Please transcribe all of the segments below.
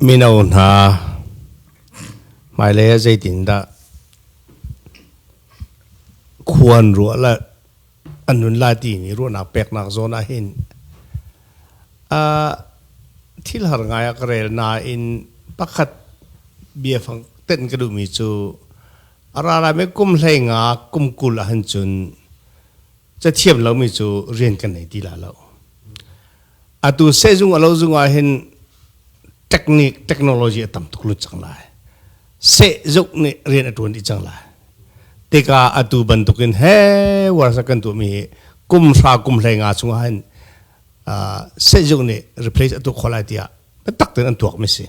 Mino hna hmailei ah zeitindah khua an ruah le an nun lai timi ruahnak peknak zawn ah hin thil har ngai ah ka rel nain pakhat biafang tenh ka duhmi cu a ra lai mi kum hleinga kum kul ah hin cun cathiam lomi cu rian kan nei ti la lo atu sehzung a lo zung ah hin technique technology a tam tuk lut cang lai sehzuk nih rian a tuan dih cang lai tika atu bantukin he warsa kan tuahmi hi kum hra kum hlei nga chungah hin sehzuk nih replace a tuak kho lai tiah biatak ten an tuakmi si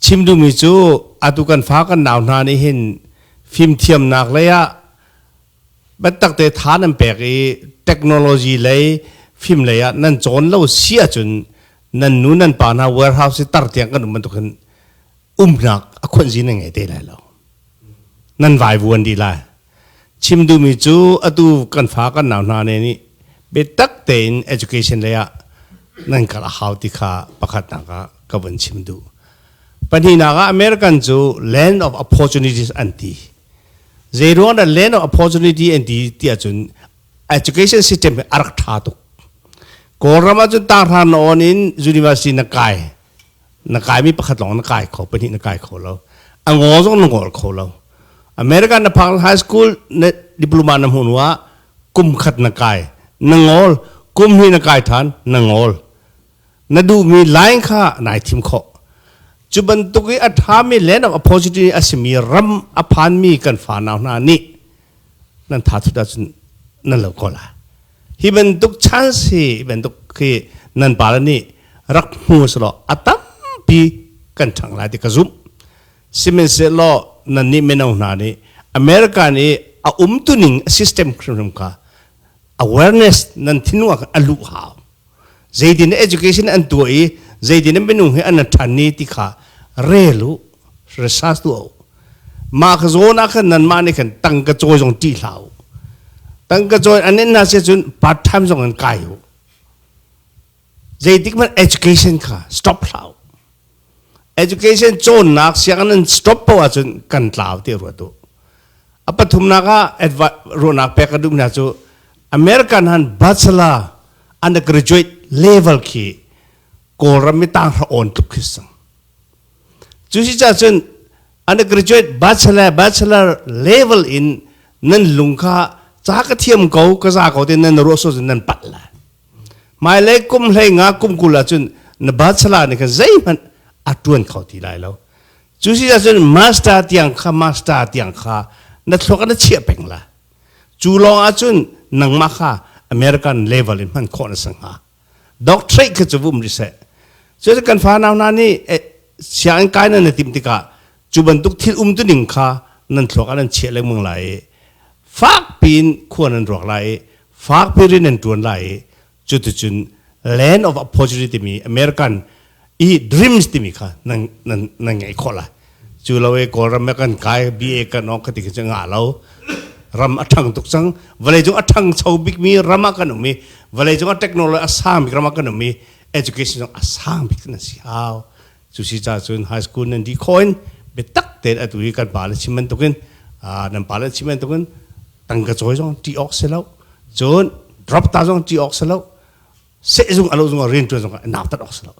chim duhmi cu atu kan fa kan nau hna nih hin fimthiamnak lei ah Battakte tha nan pek i technology lei fim lei ah nan cawn lo si ahcun nan nu nan pa hna warehouse i tar tiang kan um bantuk hin umnak a khuanzi nan ngei te lai lo nan vai vuan dih lai chim duhmi cu atu kan fa kan nau hna ne nih biatak tein education lei ah nan kal a hau ti kha pakhatnak ah ka vun chim duh pahnihnak ah American cu land of opportunities an ti Zeiruang ah land of opportunity an ti ti ahcun education system hi a rak ṭha tuk. Kawlram ahcun tahran na on in university na kai na kaimi pakhat lawng na kai kho pahnih na kai kho lo a ngol zong na ngol kho lo America na phak high school na diploma na hmuh ah kum khat na kai na ngol kum hi na kai than na ngol na duhmi line kha nai thim khawh cu bantuk i a ṭhami land of opportunity a simi ram a phanmi kan fanau hna nih nan thathut ahcun nan lo ko lai hi bantuk chance hi bantuk khi nan pale nih rak hmu selaw a tampi kan ṭhang lai ti ka zumh sihmanhsehlaw nannih mino hna nih america nih a umtuning a system hrimhrim kha awareness nan thinwa a luh hau zeitin education an tuah i zeitin minung hi an ṭhan ni ti kha rel u research tuah u mah ka zawn ah khan nan mah nih khan tangka cawi zong ṭih hlah u tangka cawi an in hna sia cun part time zong an kai u zeitik hmanh education kha stop hlah u education cawnnak sianginn an stop poh ahcun kan tlau ti ruat u a pathumnak ah ruahnak pek ka duh hna cu american han bachelor undergraduate level khi kawlram mi tang hra on tluk khi sang cu si ca cun undergraduate bachelor bachelor level in nan lung kha ca ka thiam ko ka za ko te nan ruah so nan pat la Hmailei kum hlei nga kum kul ahcun na bachelor nih khan zeihmanh a ṭuan kho ti lai lo. Cu si ahcun master tiang kha master tiang kha na thluak na chiah peng la. Cu lawng ahcun nangmah kha American level in hman khawh na si hnga. Doctorate kha cu vum rih seh. Cucu kan fanau hna nih sianginn kai nan na timh tikah cu bantuk thil umtuning kha nan thluak ah nan chiah lengmang lai i fakpi in khua nan ruak lai i fakpi in an ṭuan lai i cuticun Land of Opportunity timi American i Dreams timi kha nan nan nan ngeih khawh lai cu lo i Kawlram ah kan kai BA kan awk ka ti khi cu ngah lo ram a ṭhang tuk cang vawleicung a ṭhang cho bikmi ram ah kan um i vawleicung a technology a sang bik ram ah kan um i education zong a sang bik nan si hau Cu si caah cun high school nan dih khawh in biatak tein atu hi kan pa le chim bantukin nan pa le chim bantukin tangka cawi zong ṭih awk si lo cun drop ta zong ṭih awk si lo sehzung alo zung ah rianṭuan zong ah nautat awk si lo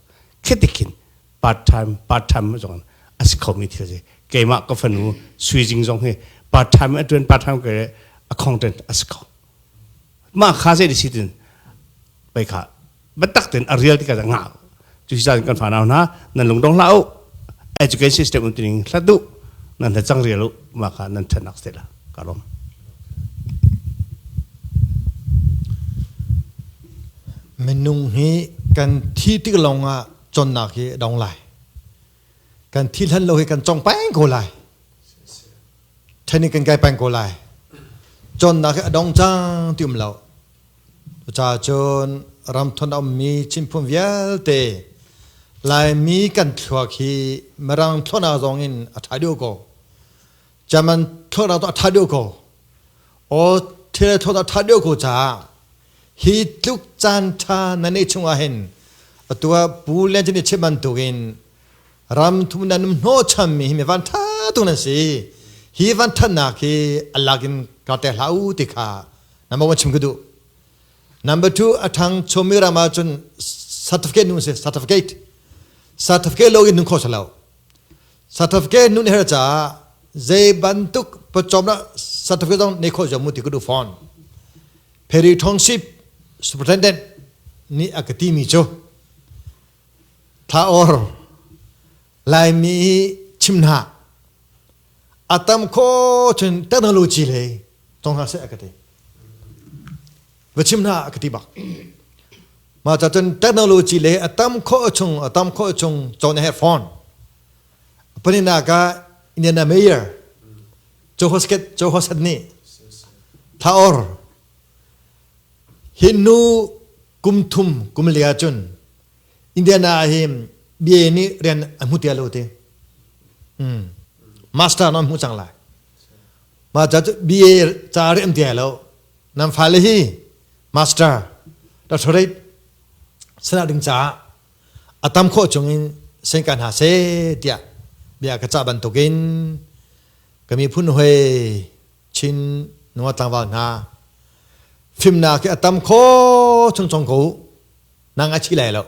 khitikin part time part time zong a si khomi thil si keimah ka fanu suijing zong hi part time a ṭuan part time ka a khong ṭan a si kho mah kha zei si tin pei kha Batak ten a real tika nga. Tu sa kan fa na nan lung dong la u education system un tining hlatu nan na chang real u ma ka nan than nak stela karom minung hi kan thi tik longah chonnak hi dong lai kan thi hlan lo hi kan chong paing ko lai thani kan kai paing ko lai chonnak hi adong chang ti um lo Cucacun ramthun a ummi Chinphung vialte Laimi kan thluak hi Mirang thlawhnak zong in a ṭha deuh ko. German thlawhnak zong a ṭha deuh ko. Aw thil thlawhnak a ṭha deuh ko caah hi tluk caan ṭha na neih chungah hin atu ah Pu Lian Cin nih chim bantukin ramthum nan um hnawhchanmi hi mi vanṭha tuk nan si. Hi vanṭhatnak hi a lak in ka tek hlah u ti kha number one chim ka duh number two a thang chomi ram ah cun certificate nu se certificate certificate lo in nun kho salo certificate nun her cha zei bantuk pachom na certificate dong nei kho jamu ti kudu phone ferry township superintendent ni akati mi cho tha or laimi chimna A tam kho cun technology le tong hna seh a ka ti. Va chim hna a ka ti bak. Ma ca cun technology le a tam kho chung a tam kho chung chon he phone. Panina ka Indiana Mayor Joe Hosket Joe Hosket ni thaor hinnu kum thum kum lia cun Indiana ah hi BA nih rian a hmu tia lo ti. Hmm. Master non hmu cang lai. Ma ca cu BA ca rian tia lo. Nan fale hi master doctorate sana ding ca a tam khawh chung in sen kan ha se tia bia ka ca bantuk in kami phun hoi chin nuwa tlangwal hna fimna ke atam kho chung chung ko nang a thi lai lo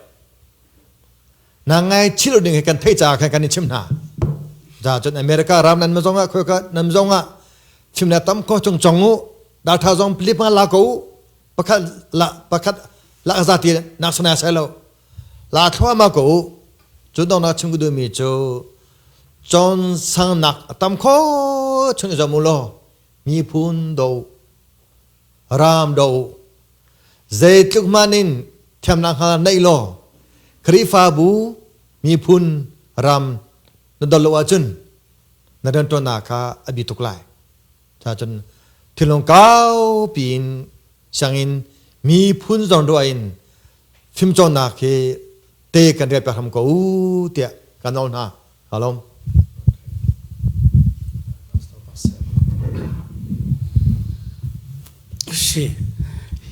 nang ngaichih lo ding he kan thei caah khan kan i chim hna za cun america ram nan mazong ah khoi ka nan zong ah chimna tam ko chung chong u data zong pilip ma la ko pakhat la pakhat la za ti nak sana sai lo la thwa ma ko cu dong na chim du mi chu chon sang nak tam ko chun zo mu lo mi phun do Ram do zeitluk man in thiamnak hna neih law Khrihfabu miphun ram na dol lo ahcun na rianṭuannak kha a bi tuk lai. Cuacun thilung kaupi in sianginn miphun zawn ruah in fimcawnnak hi te kan rial piak hram ko u tiah kan nawl hna.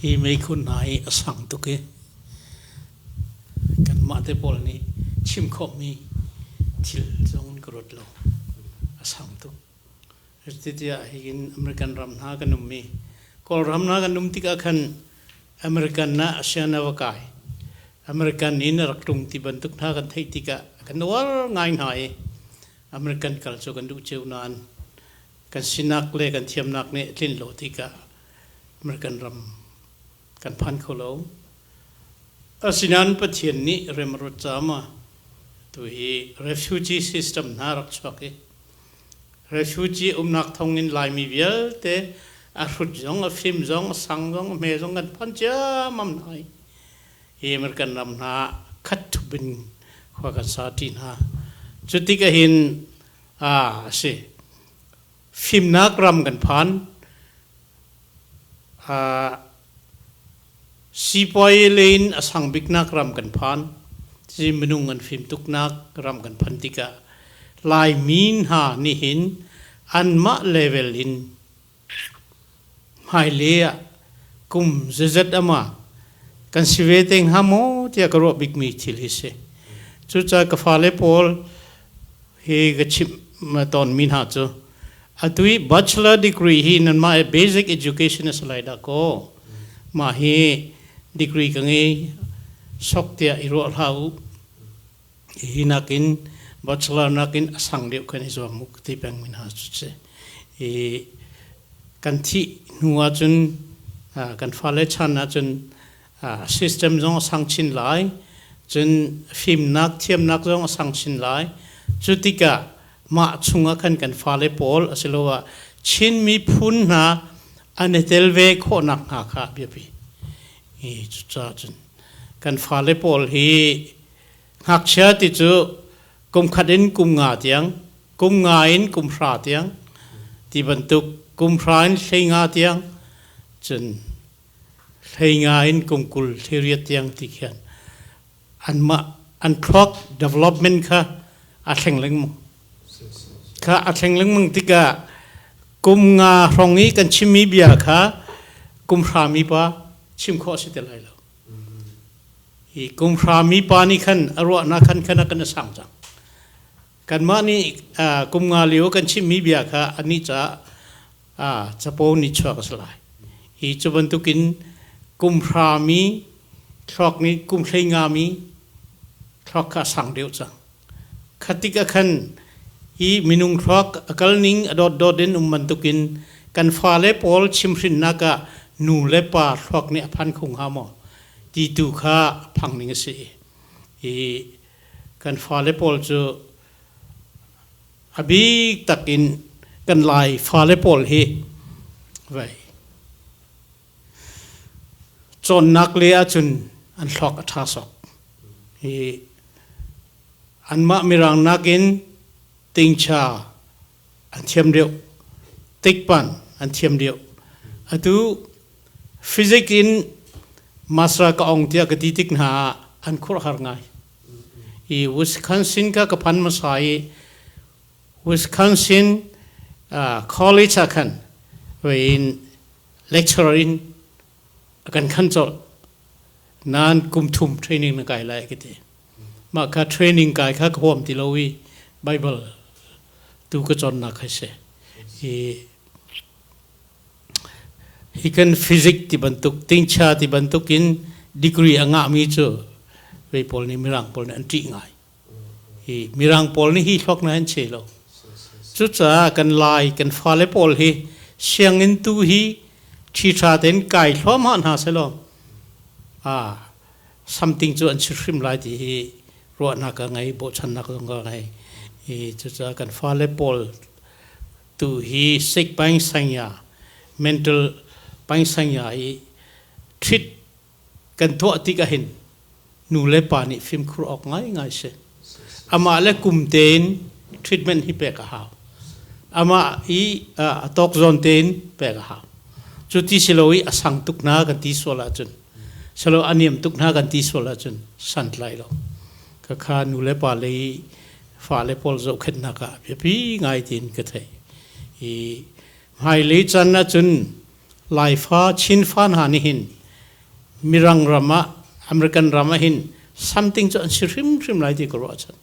Hi meikhu hna hi a sang tuk i kanmah te pawl nih chim khawhmi thil zong in ka ruat lo. A sang tuk. Cuti ah hihin American ram hna kan um i Kawlram hna kan um tikah khan American ah asian a va kai. American in a rak tlung ti bantuk hna kan theih tikah kan uar ngai hna i American kal cu kan duh ceu nain kan sinak le kan thiamnak nih a tlin lo tikah American ram kan phan kho lo. Asinain Pathian nih remruat caah tu hi refugee system hna rak chuak i refugee umnak thonginn Laimi vialte a hrut zong, a fim zong, a sang zong, a hme zong kan phan ciammam hna i hi American ram hna khatthup in khua kan sa ṭi hna. Cu tik ahhin a si. fimnak ram kan phan sipuai le in a sang biknak ram kan phan ci minung an fim tuknak ram kan phan tikah laimi hna nih hin anmah level in hmaile ah kum zezet ama kan si ve te hnga maw tiah ka ruah bikmi thil hi si cucaah ka fale pawl hi ka chimh tawnmi hna cu atu i bachelor degree hi nanmah he basic education a si lai dah kaw mah hi degree ka ngei sok tiah i ruah hlah u Hi nakin bachelor nakin a sang deuh kan i zuam uh ti peng min hna cu si. I kan thih hnu ahcun uh, kan fale chan ahcun uh, system zong a sang chin lai, cun fimnak, thiamnak zong a sang chin lai. Cu tikah mah chungah khan kan fale pawl asiloah Chin miphun hna an i tel ve khawhnak hna kha a biapi. i cucaah cun kan fale pawl hi ngakchia ti cu kum khat in kum nga tiang kum nga in kum hra tiang ti bantuk kum hra in hlei nga tiang cun hlei nga in kum kul thli riat tiang ti khin anmah an thluak development kha a thleng lengmang kha a thleng lengmang tikah kum nga hrong i kan chimmi bia kha kum hra mipa chim khawh si tel lai lo i kum hra mipa nih khan a ruahnak khan khan a kan a sang cang Kanmah nih kum nga lio kan chimhmi bia kha anih caah capo nih chuak a si lai. Hi cu bantukin kum hrami, thluak nih kum hlei ngami thluak kha a sang deuh cang. Khatik ah khan hi minung thluak a kalning a dotdot in um bantukin kan fale pawl chimhrinnak ah nu le pa thluak nih a phan kho hnga maw? ti tu kha a phang ning a si. Hi kan fale pawl cu a bik tak in kan lai fale pawl hi vai cawnnak le ahcun an thluak a ṭha sawk i anmah mirang nakin tingcha an thiam deuh take part an thiam deuh atu physics in master ka ong tiah ka ti tik hna ah an khur har ngai i Wisconsin ka ka phan hmasa i Wisconsin uh, college ah khan in lecturer in kan khan chol nan kum thum training na kai lai ka ti mah kha training kai kha ka huam ti lo i bible tu ka chonnak hai se i he can physics ti bantuk tingcha ti bantuk in degree a ngah mi cu vei pawl nih mirang pawl nih an ṭih ngai hi mirang pawl nih hi thluak na an che lo cucaah kan lai kan fale pawl hi sianginn tu hi thi tha tein kai hluahmah hna selaw ah something cu an si hrim lai ti hi ruahnak ka ngei bochannak zong ka ngei i cucaah kan fale pawl tu hi sik pangsanya mental pangsanya i thrit kan tuah tik ahhin nu le pa nih fimkhur awk ngaingai a si. Amah le kum tein treatment hi pek a hau. Amah i a tawk zawn tein pek a hau. Cu ti si lo i a sang tuk hna kan ti sual ahcun, silo a niam tuk hna kan ti sual ahcun santlai lo. Ka kha nu le pa le i fale pawl zohkhenhnak ah biapi ngai tein ka theih. I hmailei caan ahcun Laifa Chinfa hna nih hin Mirang ram ah American ram ah hin something cu an si hrimhrim lai ti ka ruah chan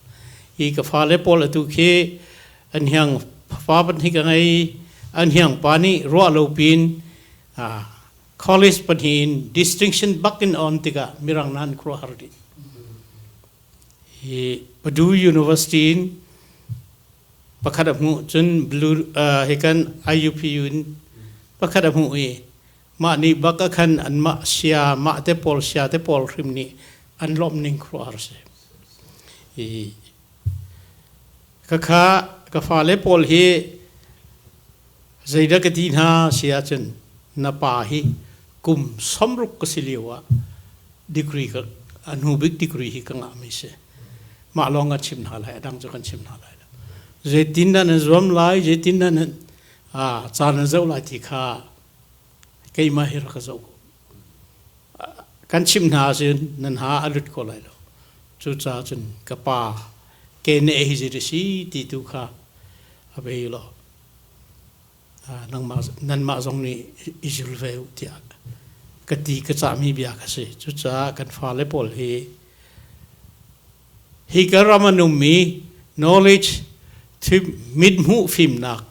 i ka fale pawl atu khi an hiang fa pahnih ka ngei an hiang pa nih ruah lo pin college pahnih in distinction bak in on tikah Mirang nan khuaruahhar dih hi Purdue University in pakhat a hmuh cun blue uh, hi kan IUPU in pakhat a hmuh i mah nih bak a khan an mah sia mah te pawl sia te pawl hrim nih an lawmh ning khuar a si i ka kha ka fale pawl hi zeidah ka ti hna si ahcun na pa hi kum somruk ka si lio ah degree ka a hnu bik degree hi ka ngahmi si mah lawng a chim hna lai a dang cu kan chim hna lai lo zeitin nan zuam lai zeitin nan caan na zoh lai ti kha keimah hi rak ka zoh kan chim hna ahcun nan ha a lut ko lai lo cucaah cun ka pa ke ne hi zit a si ti tu kha a bei law nanmah zong nih i zil ve u tiah ka ti ka cahmi bia kha si cucaah kan fale pawl hi hi ka ram an ummi knowledge thi mithmuh fimnak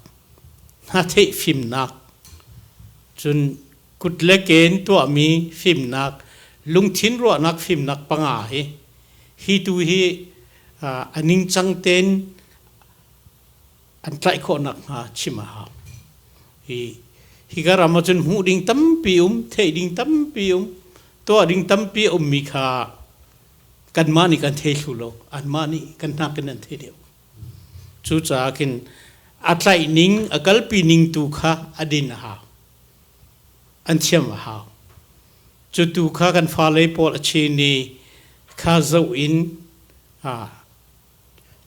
hna theih fimnak cun kut le ken tuahmi fimnak lungthin ruahnak fimnak panga hi hi tu hi a ningcang tein an tlaih khawh nakhnga chim a hau. Hi, higa ram ahcun hmuh ding tampi um, theih ding tampi um, tuah ding tampi a ummi kha kanmah nih kan thei thlu lo. Anmah nih kan hnak in an thei deuh. Cucaah kin a tlaih ning, a kalpi ning tu kha a din a hau. An thiam a hau. Cu tu kha kan fale pawl a chin i kha zoh in ha,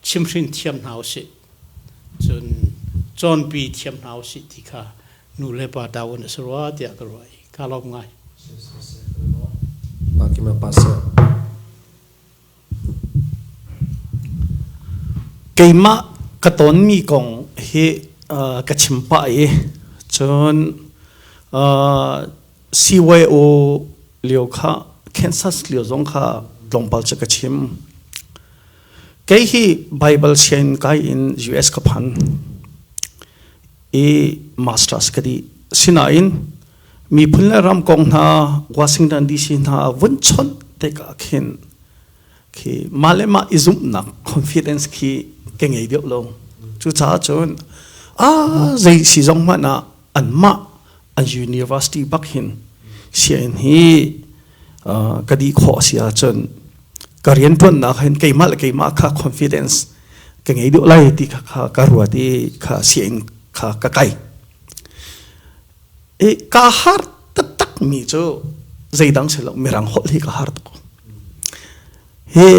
chimhrin thiam hna u sih cun cawnpi thiam hna u sih ti kha nu le pa ta in a si rua tiah ka ruah i ka lawm ngai. Kim Pastor. Keimah ka tonmi kong hi ka chim pah i cun CYO lio kha Kansas lio zong kha tlawmpal cu ka chim. Kei hi Bible sian kai in US ka phan i masters ka di. Sinain miphun le ram kong hna Washington DC hna vun chawnh tik ah khin khi mah le mah i zumhnak confidence khi ka ngei deuh lo cucaah cun a zei si zong hmanh ah an mah an university bak hin sian hi ka di khawh a si ahcun ka riantuannak hin keimah le keimah kha confidence ka ngei deuh lai ti kha ka ruat i kha sian kha ka kai i ka har taktak mi cu zeidang si lo mirang holh hi ka har tuk hi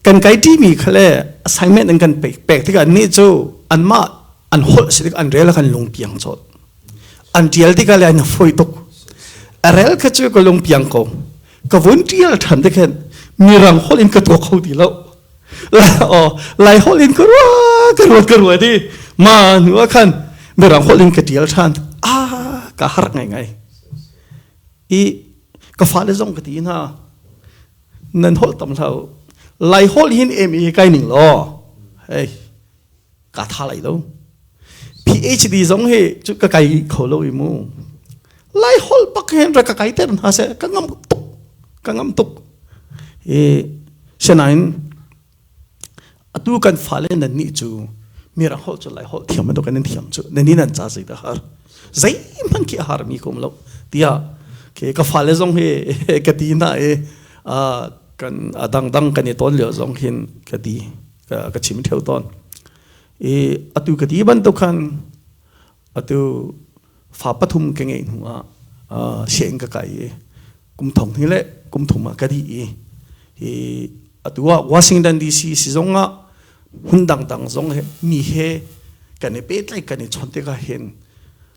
kan kai ṭi mi kha le assignment an kan pek pek tikah ni cu anmah an holh si tik an rel khan lung piang chawt an ṭial tikah le an foi tuk a rel kha cu ka lung piang ko ka vun ṭial ṭhan te khan mirang holh in ka tuak kho ti lo aw lai hol in ka rua ka ruat ka ruat di ma nu a khan beram hol in ka tial than a ka har ngai ngai i ka fa le zong ka ti na nan hol tam hlau lai hol hin em i kai ning lo hey kaa tha lai lo PhD zong hi cu ka kai kho lo i mu lai hol pak hen ra ka kai ter hna se ka ngam tuk ka ngam tuk e sinain atu kan fale nan ni chu mira hol chu lai hol thiam to kan thiam chu nani nan cha sei da har zei man ki har mi kom lo tia ke ka fale zong hi ka ti na e a kan adang dang kan i ton leo zong hin ka di ka chim theo ton i atu ka ti ban to khan atu fa pathum ke ngai hnu a seng ka kai kum thong hi le kum thum a ka di i atu wa Washington DC si zong a hun dang dang zong he mi he kan i pet lai kan i chon te ka hen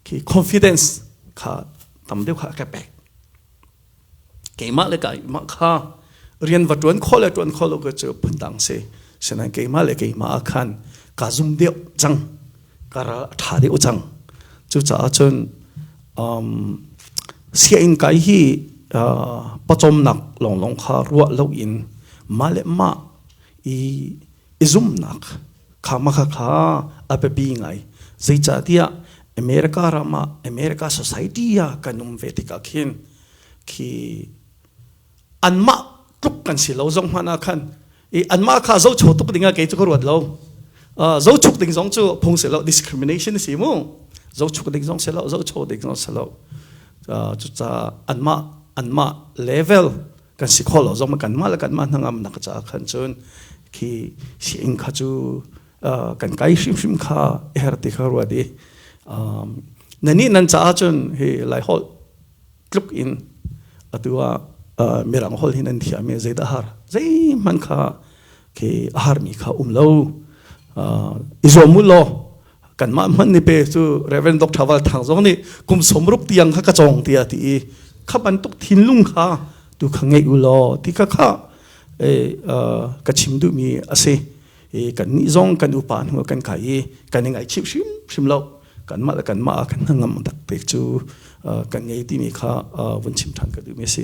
ki confidence kha tam deuh kha ka pek keimah le keimah kha rian va ṭuan khawh le ṭuan khawh lo ka cu phundang si sinain keimah le keimah ah khan kaa zum deuh cang ka ral a ṭha deuh cang cucaah cun um, sianginn kai hi uh, pawcawmnak lawnglawng kha ruah loin mah le mah i i zumhnak khamaka kha a biapi ngai zeicahtiah America ram ah America society ah kan um ve tikah khin khi anmah tluk kan si lo zong hmanh ah khan i anmah kha zocho tuk dingah kei cu ka ruat lo uh, zochuk ding zong cu phung si lo discrimination si mu zochuk ding zong si lo zocho ding zong si lo uh, cucaah anmah anmah level kan si kho lo zong kan mah le kan mah hnangam nak caah khan cun khi siing kha cu kan kai hrimhrim kha her ti kha ruat i nani nan caah cun hi lai hol tluk in atua mirang hol hi nan thiam mi zeidah har zei man kha khi a harmi kha um lo i zuam u law kanmah hman ni pe cu Reverend Dr. Val Thang zong nih kum sawm ruk tiang kha ka cawng tiah ti i kha bantuk thinlung kha tu kha ngei u law ti kha kha ka chim duhmi a si kan nih zong kan upa hnu kan kai i kan i ngaihchih hrimhrim lo kanmah le kanmah ah kan hnangam tak pek cu kan ngei timi kha vun chim ṭhan ka duhmi a si